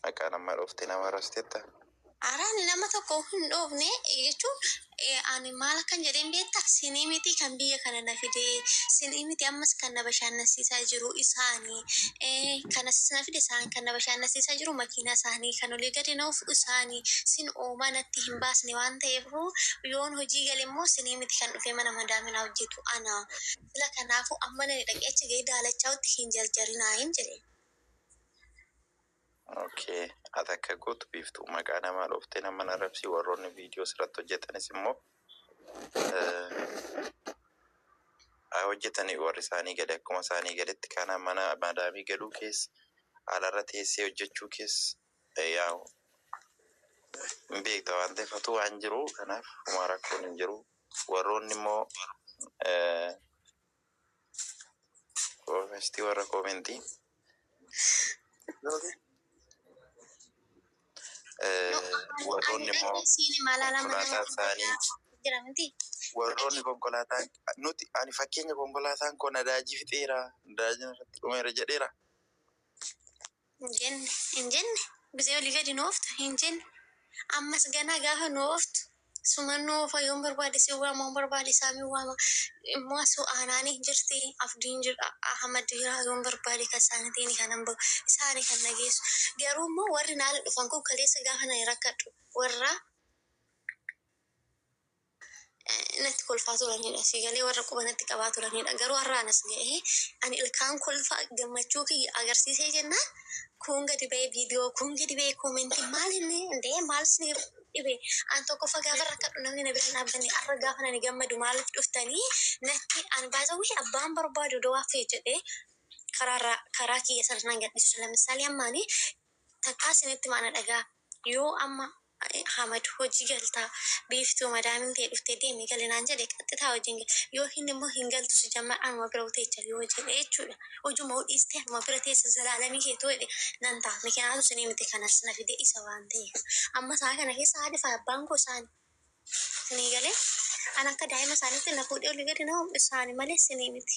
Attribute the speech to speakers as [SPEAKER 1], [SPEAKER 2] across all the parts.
[SPEAKER 1] Maqaa nama dhoofte nama rastetta. Ara ani
[SPEAKER 2] nama tokko hin dhoofne jechuun ani maal akkan jedheen beekta sinii miti kan biyya kana na fide sinii miti ammas kan na bashaannansiisaa jiru isaani kanas na fide isaan kan na bashaannansiisaa jiru makiinaa isaanii kan olii gadi na fudhu isaani sin oomaa natti hin baasne waan ta'eef yoon hojii gale immoo sinii miti kan dhufee mana madaaminaa hojjetu ana sila kanaafu amma nani dhaqee achi ga'ee daalachaa'utti hin jarjarinaa hin jedheen.
[SPEAKER 1] Ok ati akka gootu biiftuu maqaa namaa dhooftee nama hin arrabsii warroonni viidiyoo sirratti hojjetanis immoo eh, haa hojjetanii warri isaanii gadi akkuma isaanii gaditti kana mana madaamii galuu keessa alarra teessee hojjechuu keessa eh, yaa hin beekta waan ta'eef hatuu waan jiru kanaaf homaa rakkoon hin jiru warroonni immoo eh, Koomestii warra koomentii. Warroonni immoo konkolaataa isaanii jira miti. Warroonni konkolaataa nuti ani fakkeenya konkolaataan koo nadaajii fixeera nadaajii irratti dhumeera jedheera. Hin jenne,
[SPEAKER 2] hin jenne, bisee olii gadi nu oofta, hin jenne. Ammas ganaa gaafa nu ooftu suman nu oofa, yoon barbaade si waama, yoon barbaade Saamin waama. Immoo su Aanaani jirti, Abdiin jira, Ahmad jira, yoon barbaade kan saanitiini kanan bahu, isaani kan na geessu. Garuu immoo warri naala dhufan kun kaleessa gaafa nani rakkadhu warra. natti kolfaa turanidha. Sii galee warra quba natti qabaa turanidha. Garuu har'aan as ga'ee ani ilkaan kolfa gammachuu kiyya agarsiisee jennaan kuun gadi ba'ee viidiyoo kuun gadi ba'ee koomentii maal inni indee maal isinii dhibe an tokkoffa gaafa rakkadhu namni na bira hin dhaabbanne har'a gaafa ani gammadu maaliif dhuftanii natti an baasawwii abbaan barbaadu odoo haffee jedhee karaarraa karaa kiyya sana nan gadhiisu. Lammisaalee ammaanii takkaa isinitti maana dhagaa yoo amma Ahmad hojii galtaa biiftuu madaamiin tee dhuftee deemi gali naan jedhe qaxxitaa hojiin gale yookiin immoo hin galtu sijammar anuma bira uteecha yoo jedhe jechuudha hojuma udhiistee anuma bira teessa zalaalamii kee too jedhe nan ta'a mikinaatu sinii miti kanas na fide isa waan ta'eef amma saa kana keessa haadhi fi abbaan koo saani sinii galee an akka daa'ima saanitti na fuudhee olii gadi na humdhe saani malee sinii miti.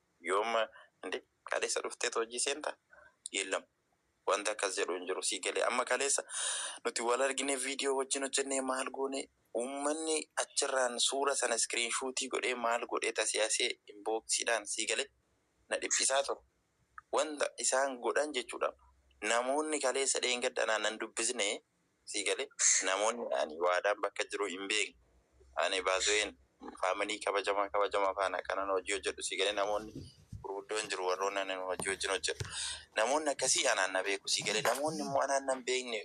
[SPEAKER 1] Yoom Inde kaleessa dhufteetu hojii seenta? Yellam wanti akkas jedhu hin jiru sii galee amma kaleessa nuti wal arginee video wajjin hojjennee maal goone uummanni achirraan suura sana screen shuutii godhee maal godhee tasiasee inbox dhaan sii galee na dhiphisaa ture wanta isaan godhan jechuudha namoonni kaleessa dheengadda anaan hin dubbisne sii galee namooni ani waadaan bakka jiruu hin beekne ani bazu'een family kabajama kabajama faana akka nan hojii hojjedhu sii galee namooni gurguddoon jiru warroonni ani hojii wajjin hojjedhu namooni akkasii anaan na beeku sii galee namooni immoo anaan nan beekne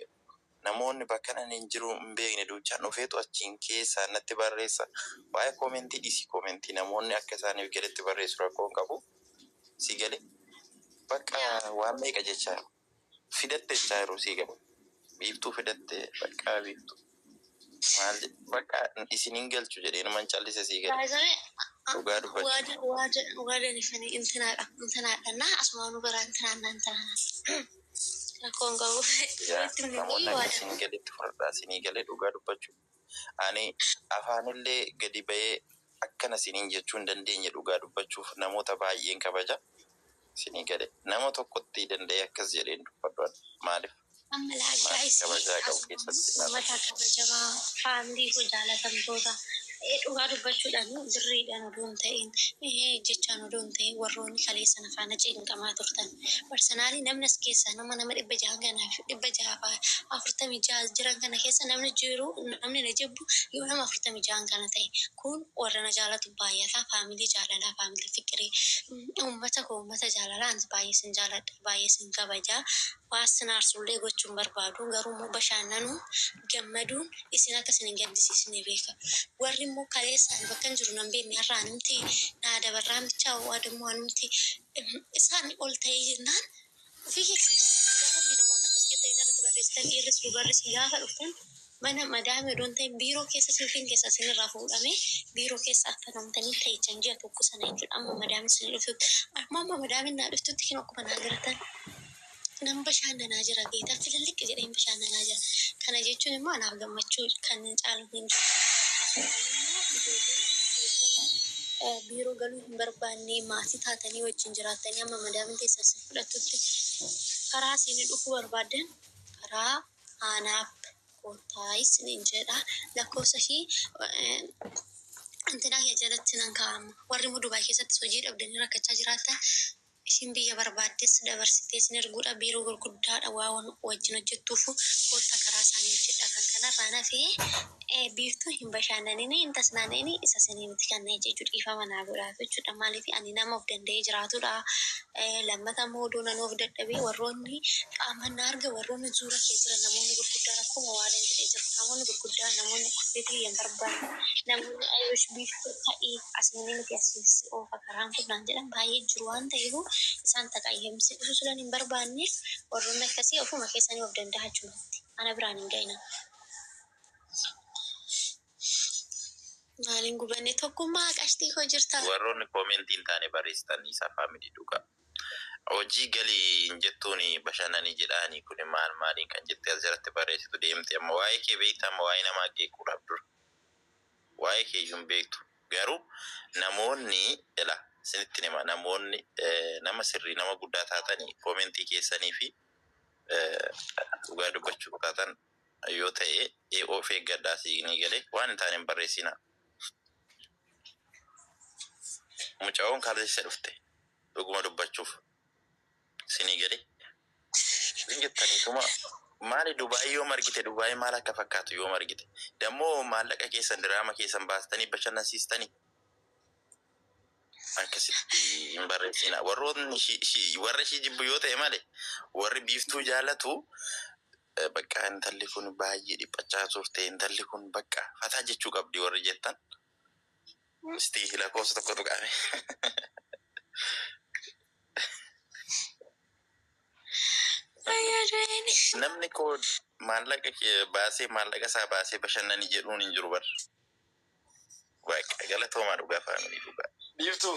[SPEAKER 1] namooni bakkan ani hin jiruu hin beekne duuchaan dhufeetu achiin keessaan natti barreessa waa'ee koomentii dhiisii koomentii namooni akka isaaniif galetti barreessu rakkoo hin qabu sii galee bakka waan meeqa jechaa Fidatte silaa yeroo sii gababu. Biiftuu fidatte baqqaa biiftuu maal jedhe baqqaa isin hin galchu jedhe inuman callise sii
[SPEAKER 2] gale
[SPEAKER 1] dhugaa dubbachu. Ani afaanillee gadi ba'ee akkana isiniin jechuu hin dandeenye dhugaa dubbachuuf namoota baay'een kabaja isinii gale. Nama tokkotti danda'ee akkas jedhee hin dubbadhu ani. Maaliif? Maatii
[SPEAKER 2] kabajaa qabu keessatti nan rakkadha. Ummata kabajamaa, family koo jaalatamtoota, dhugaa dubbachuudhaan birriidhaan odoo hin ta'iin, jechaan odoo hin ta'iin warroonni kaleessa na faana cinqamaa turtan. Personally namni as keessaa nama nama dhibba jaha kana dhibba jaha fi afurtamii jaha jiran kana keessa namni jiru namni na jibbu yoo nama afurtamii jahan kana ta'e kun warra na jaalatu baay'ata faamilii jaalalaa faamilii fiqirii uummata koo uummata jaalalaa anis baay'ee sin jaaladha baay'ee sin kabajaa waan sin aarsullee gochuun barbaadu garuu immoo bashaannanuun gammaduun isin akka isin hin gaddisiisne beeka warri immoo kaleessaan bakka hin jiru nan beekne har'aan himti naa dabarraan bichaa waadammoo anumti Isaanii ol ta'ee jennaan ofii keessanii dhugaa rabbii namoonni akkas jettanii narratti barreessitan dhiirris dubarris gaafa dhuftan mana madaamii odoo hin ta'in biiroo keessa suufiin keessan isinirraa fuudhamee biiroo keessa affanoomtanii teechan ji'a tokko sana jechuudha amma madaamiin isinii dhuftutti amma amma madaamiin naa dhuftutti kinoo akkuma naa garatan Nan bashaannanaa jira beektaa, fililliq jedheen bashaannanaa jira. Kana jechuun immoo anaaf gammachuu kan caalu hin jiru. Akkasumaan immoo ijoolleen keessan biiroo galuu hin barbaanne, maatii taatanii wajjin jiraattanii amma madaamiin keessan isin fudhattutti karaa isin dhufuu barbaaddan karaa aanaaf koottaa isiniin jedha. Lakkoofsa ishii intinaa kee jalatti nan kaa'a amma. Warri immoo Dubaay keessattis hojii dhabdanii rakkachaa jiraattan Ishiin biyya barbaaddes dabarsitee isin erguudha, biiroo gurguddaadha waan wajjin hojjettuufuu koottaa karaa isaanii hojjedhaa, kan kanarraan hafe Biiftuu hin bashaannanini, hin tasnaana'ini, isa isinii miti kan na ajaju, dhiifama naa godhaatu jechuudha, maaliif ani nama of danda'ee jiraatudha, lammata immoo odoo nanuu of dadhabee warroonni qaamaan na argan warroonni zuura kee jiran namoonni gurguddaan akkuma Waaren jedhe jiru, namoonni gurguddaan namoonni affeetii kee hin barbaanne, namoonni I wish Biiftuu ta'i, asiinii miti asiin si oofa kan. carraan fudhaan jedhan baay'ee jiru waan ta'eefu isaan taqayyamsi dhusuu sulan hin barbaanne warroonni akkasii ofuma keessanii of danda'a chumatti ana biraan hin ga'ina. Maaliin gubanne tokkummaa qashtii koo jirta. Warroonni koomentii hin
[SPEAKER 1] taane barreessitan dhiisaa faamilii dhugaa. Hojii gali hin jettuuni bashanani jedhaani kuni maal maaliin kan jettee as jalatti barreessitu deemti amma waa'ee kee beekta amma waa'ee namaa qeequudhaaf dura. Waa'ee keeyyuu hin beektu. Garuu namoonni ila isinittin hima namoonni nama sirrii nama guddaa taatani koomentii keessanii fi dhugaa dubbachuuf taatan yoo ta'e of eeggadhaa siinii gale waan hin taane hin barreessinaa. Mucayoon kaleessa dhufte dhuguma dubbachuuf. Sinii gale hin jettani tuma maali dubai yoom argite dubai maal akka fakkaatu yoom argite dammo maallaqa keessan diraama keessan baastanii bashannansiistani akkasitti hin barreessina warroonni shi- shi- warra ishii jibbu yoo ta'e male warri biiftuu jaalatu eh, bakka intalli kun baay'ee dhiphachaa turte intalli kun bakka fataa jechuu qabdi warri jettan Gusti lakofsa tokko tuqame. Namni ko maallaqa baasee maallaqa isaa baasee bashannani jedhuun hin jiru bar. Waaqa galatoomaa dhugaa faamilii dhugaa. Biiftuu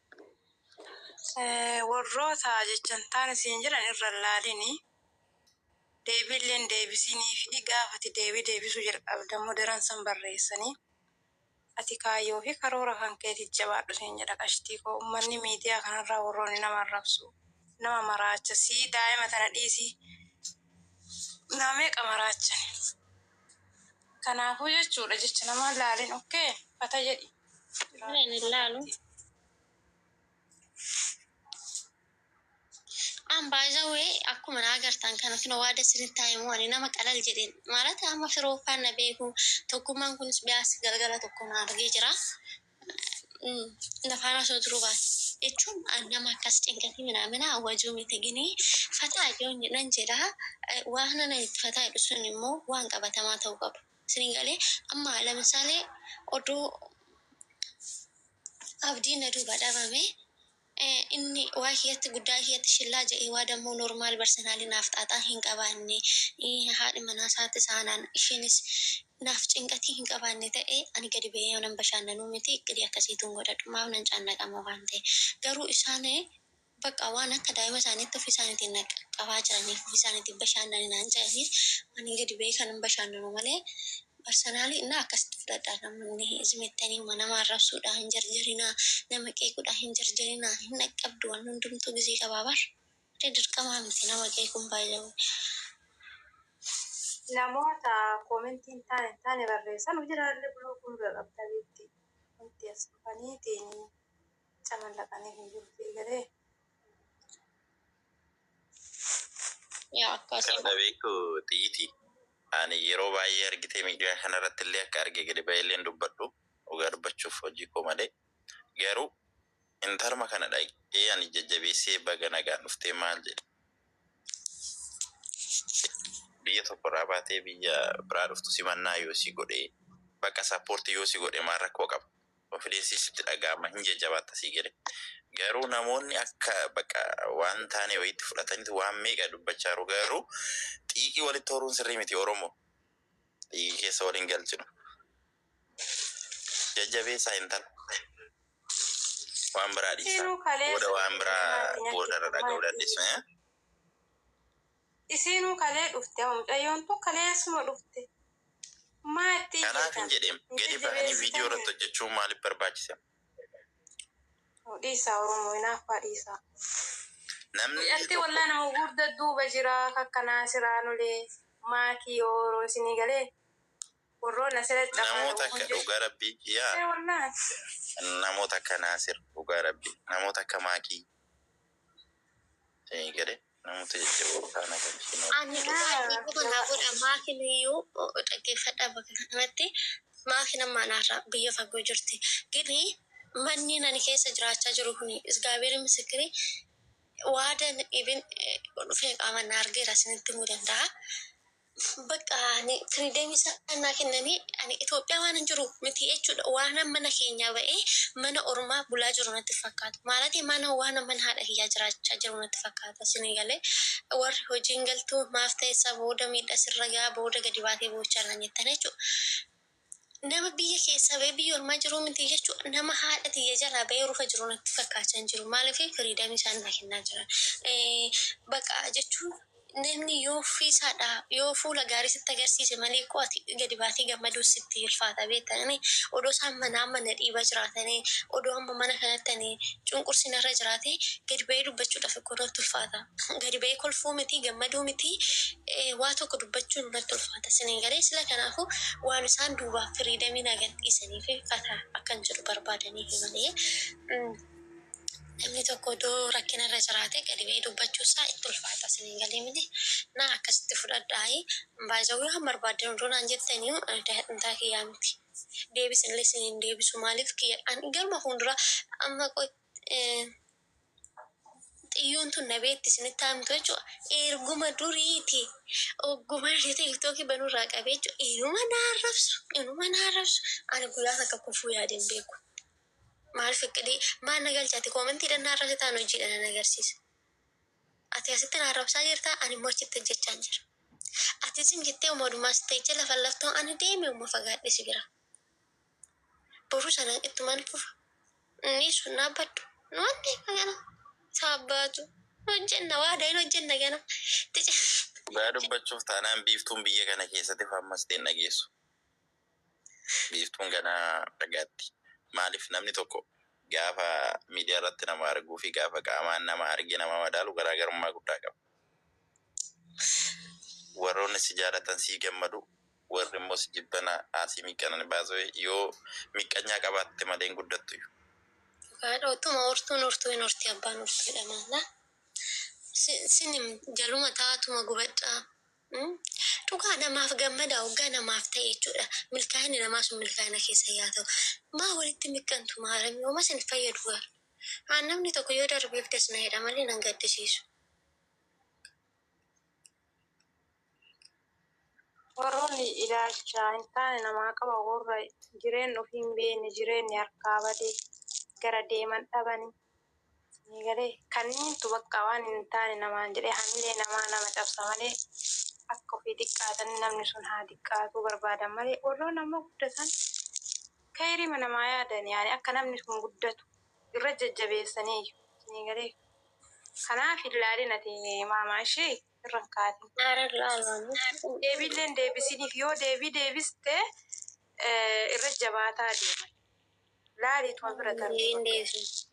[SPEAKER 3] Worroota jechantaan siin jedhan irra hin laalini, deebiillee hin deebisiniifi, gaafa ati deebii deebisuu jalqabde ammoo daran san barreessanii, ati kaayyoo fi karoora kan keetiif jabaadhu siin jedha qashtii koo. Ummanni miidiyaa kanarraa worroonni nama arrabsu, nama maraacha, sii daa'ima tana dhiisii nama meeqa maraachani. Kanaafuu jechuudha jecha namaa hin laalin ok fata jedhi. Ani hin
[SPEAKER 2] laalu. An by the way akkuma na agartan kana kino waa das isinitti haa himu ani nama qalal jedheen maalata amma firooffaan na beeku tokkummaan kunis biyaas galgala tokko na argee jira Nafaan osoo jiruu baate. Jechuun an nama akkas cinqatii minaamina wajuu miti ginii fataa yoon jedhan jedhaa waan ana itti fataa jedhu sun immoo waan qabatamaa ta'uu qaba. Isin galee amma lamisaalee oduu abdii na duuba dhabame ee inni waa kiyyatti guddaa kiyyatti shillaa ja'ee waa dammoo normal barsenaalii naaf xaaxaa hin qabaanne ii haadhi manaa saatti saanaan ishiinis naaf cinqatii hin qabaanne ta'e ani gadi ba'ee yoo nan bashaannanuu miti iqqidii akkasiitu hin godhadhu maaf nan caannaqama waan ta'e garuu isaan baqqa waan akka daa'ima isaaniitti ofii isaaniitiin na qaqqabaa jiraniif ofii isaaniitiin bashaannani naan ja'anii ani gadi ba'ee kanan bashaannanu malee Personally na akkasitti fudhadha namoonni zim jettanii wa nama arrabsuudha hin jarjarinaa nama qeequudha hin jarjarinaa hin dhaqqabdu wanni hundumtuu gizee qabaa bar re dirqamaa miti nama qeequun by the way
[SPEAKER 3] namoota comment hin taane hin taane barreessan hujiraallee block nurra qabda beetti wanti as dhufaniitiin camallaqaniif hin jiru sii galee.
[SPEAKER 1] Yaa akkaa Kan seenaa.
[SPEAKER 2] dhabeeku
[SPEAKER 1] xiyyiti. Ani yeroo baay'ee argitee miidiyaa kanarratti illee akka arge gadi ba'ee illee hin dubbadhu. Dhugaa dubbachuuf hojii koo malee. Garuu intalma kana dhaqee ani jajjabeessee baga nagaan dhuftee maal jedhe. Biyya tokko irraa baatee biyya biraa dhuftu simannaa yoo si godhe bakka support yoo si godhe maal rakkoo qaba. Confidence sitti dhaga'ama hin jajjabaatta sii gale garuu namoonni akka baqa waan taanee wayiitti fudhatanitu waan meeqa dubbachaaru garuu xiiqii walitti horuun sirrii miti oromoo xiiqii keessa wal hin galchinu jajjabeessaa intala waan biraa dhiisaa booda waan biraa boodarra dhaga'uu dandeessu.
[SPEAKER 3] Isiinuu kalee dhufte moo mucayyoon tun kaleessuma dhufte maa itti iyyitan Kanaafin jedheem
[SPEAKER 1] hin gadi bahanii video irratti jajjabeessitanii. hojjachuun maalif barbaachise. Nuu
[SPEAKER 3] dhiisaa oromoo inaaffaa dhiisaa. Namni
[SPEAKER 1] Mucattii tokko. wallah nama
[SPEAKER 3] gugurda duuba jiraa kakka naasiraa nulee maakii ooroo isinii galee. Namuu takka dhuga
[SPEAKER 1] rabbi yaa
[SPEAKER 3] namuu
[SPEAKER 1] takka naasir dhuga rabbi namuu takka maaki sini gale namutu jajjaboo faana galfii Ani dhugaa rabbii qofa
[SPEAKER 2] naa godha maaki nuyyuu dhaggeeffadha bakka kanatti maaki nammaa naarra biyya fagoo jirti gini manniin ani keessa jiraachaa jiru kuni izgaabeeri misikiri waadan ibin dhufee qaaman na argeera isinitti himuu danda'a Bakka ani freedom isaa naa kennamee ani Ethiopia waanan jiru miti jechuudha waanan mana keenyaa ba'ee mana ormaa bulaa jiru natti fakkaata maalatii mana waanan mana haadha kiyyaa jiraachaa jiru natti fakkaata isinii galee warri hojiin galtuu maaf ta'essa booda miidha sirra ga'a booda gadi baatee boo'ichaa naan jettan jechuudha. Nama biyya keessaa bahee biyya ormaa jiruu miti jechuun nama haadha tiyya jalaa bahee rufa jiru natti fakkaachaa hin jiru. Maaliif freedom isaan naa kennaa jiran. Baqa jechuun namni yoo ofii isaa dhaa yoo fuula gaarii sitti agarsiise malee koo ati gadi baatee gammaduu sitti ulfaata beekta ani odoo isaan manaa amma na dhiiba jiraatanii odoo amma mana kanatti ani cunqursi narra jiraatee gadi bahee dubbachuudhaaf koo natti ulfaata. gadi ba'ee kolfuu miti gammaduu miti waa tokko dubbachuun natti ulfaata isinii galee sila kanaafuu waan isaan duubaaf firiidamii naa gad dhiisaniifi fataa akkan jedhu barbaadaniifi malee namni tokko odoo rakkina irra jiraatee gadi ba'ee dubbachuu isaa itti ulfaata isinii galee miti naa akkasitti fudhadhaayi by the way waan barbaaddan odoo naan jettaniyu daadhimtaa kiyyaa miti deebisinillee isiniin deebisu maaliif kiyya an garuma fuunduraa amma qoy Xiyyuun tun nabeetti isinitti haa himtu jechuudha. Erguma duriiti ogguma inni tiiktookii banurraa qabee jechuudha. Inuma na arrabsu inuma na arrabsu ani guyyaa takka kufuu yaadeen beeku. Maal fiqidii maal na galchaati koomentiidhaan na arrabsitaan hojiidhaan na agarsiisa. Ati asitti na arrabsaa jirtaa ani immoo achitti hojjechaan jira. Ati isin jettee uma odumaa sittee jecha lafa laftoo ani deeme uma fagaadhe si bira. Boru sana ittuman fufa. Nisu hin dhaabbadhu. Nu waan beekna gana. Saabbaatu. Nu hojjenna waadaa hin hojjenna gana. Itti cimna.
[SPEAKER 1] Dhugaa dubbachuuf taanaan Biiftuun biyya kana keessatti faarmastee hin dhageessu. Biiftuun ganaa argaatti. Maaliif namni tokko gaafa miidiyaa irratti nama arguu fi gaafa qaamaan nama argee nama madaalu garaa garummaa guddaa qaba. Warroonni si jaalatan sii gammadu, warri immoo si jibbana asii miiqqanani by the way yoo miiqqanyaa qabaatte malee hin guddattuyu. Dhugaadha
[SPEAKER 2] otuma hortuun hortuu hin horti abbaan hortu jedhama laa sin jaluma taatuma gubadha dhugaa namaaf gammadaa oggaa namaaf ta'e jechuudha milkaa'inni namaa sun milkaa'ina keessan yaa ta'u maa walitti miqqantu maaramii homa sin fayyadu garu aan namni tokko yoo darbeef das na jedha malee nan gaddisiisu.
[SPEAKER 3] Warroonni ilaalcha hin taane namaa qaban worra jireenna ufii hin beenne, jireenni harkaa bade, gara deeman dhabani. Isinii galee? Kanniintu bakka waan hin taane namaan jedhee hamilee namaa nama cabsa malee, akka ufii diqqaatanii namni sun haa diqqaatuu barbaadan malee, worroonni ammoo guddatan keyriima namaa yaadan, yaani akka namni sun guddatu irra jajjabeessaniiyyu. Isinii galee? Kanaaf hin laalina tee maama ishii. irra hin kaatin. Aara du'aa ilmaaniif. Deebii illee hin deebisiniif. Yoo deebii deebiste eh, irra jabaataa deema. Laali tuma bira darbi. Deebii hin deebisin.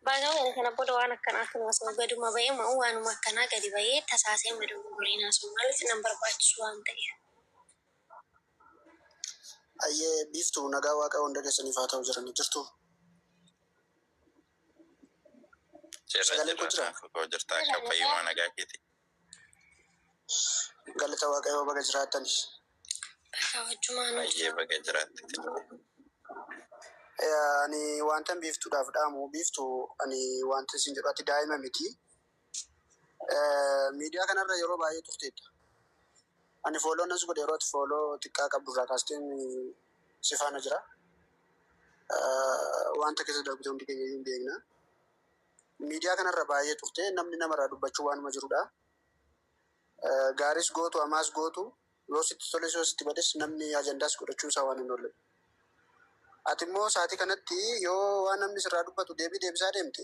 [SPEAKER 3] Baga
[SPEAKER 2] wayne kana booda waan akkanaa kun osoo gaduma ba'ee ma'u waanuma akkanaa gadi ba'ee tasaasee hin madogogorin haasa'u maaliif nan barbaachisu waan ta'eef.
[SPEAKER 4] Ayyee biiftu nagaa waaqayoo hunda keessaniif haa ta'u jirani jirtuu.
[SPEAKER 1] Sagalee koo jiraa? Koo jirta akka fayyumaa nagaa keeti. Galata
[SPEAKER 4] Waaqayyoo baga
[SPEAKER 1] jiraattan. Baay'ee baga jiraatte. Eh,
[SPEAKER 4] Ani wantan biiftuudhaaf dhaamu biiftu ani wanta isin jedhu ati daa'ima miti. Miidiyaa kanarra yeroo baay'ee turteetta. Ani fooloo nas godhe yeroo ati fooloo xiqqaa qabdu irraa kaasteen si faana jira. Wanta keessa darbite hundi keenya iyyuu hin beekna. Miidiyaa kanarra baay'ee turte namni namarraa dubbachuu waanuma jirudha. Gaaris gootu amaas gootu yoo sitti toles yoo sitti bades namni ajandaas godhachuu isaa waan hin oolle. Ati immoo sa'aatii kanatti yoo waan namni sirraa dubbatu deebii deebisaa deemte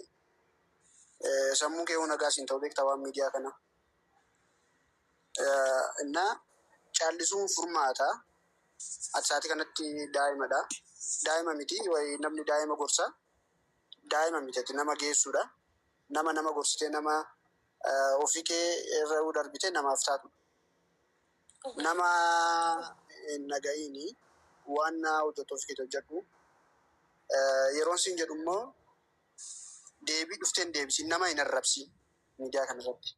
[SPEAKER 4] Sammuun kee nagaa siin ta'u beektaa waan miidiyaa kana. Innaa caallisuun furmaata. Ati sa'aatii kanatti daa'imadha. Daa'ima miti wayi namni daa'ima gorsa. Daa'ima miti ati nama geessuudha. Nama nama gorsitee nama ofii kee irra yoo darbite namaaf taatu. Nama hin dhaga'iini waan hojjettu ofii keetii hojjedhu. Yeroon siin jedhu immoo deebii dhufteen deebisiin nama hin arrabsiin miidiyaa kana irratti.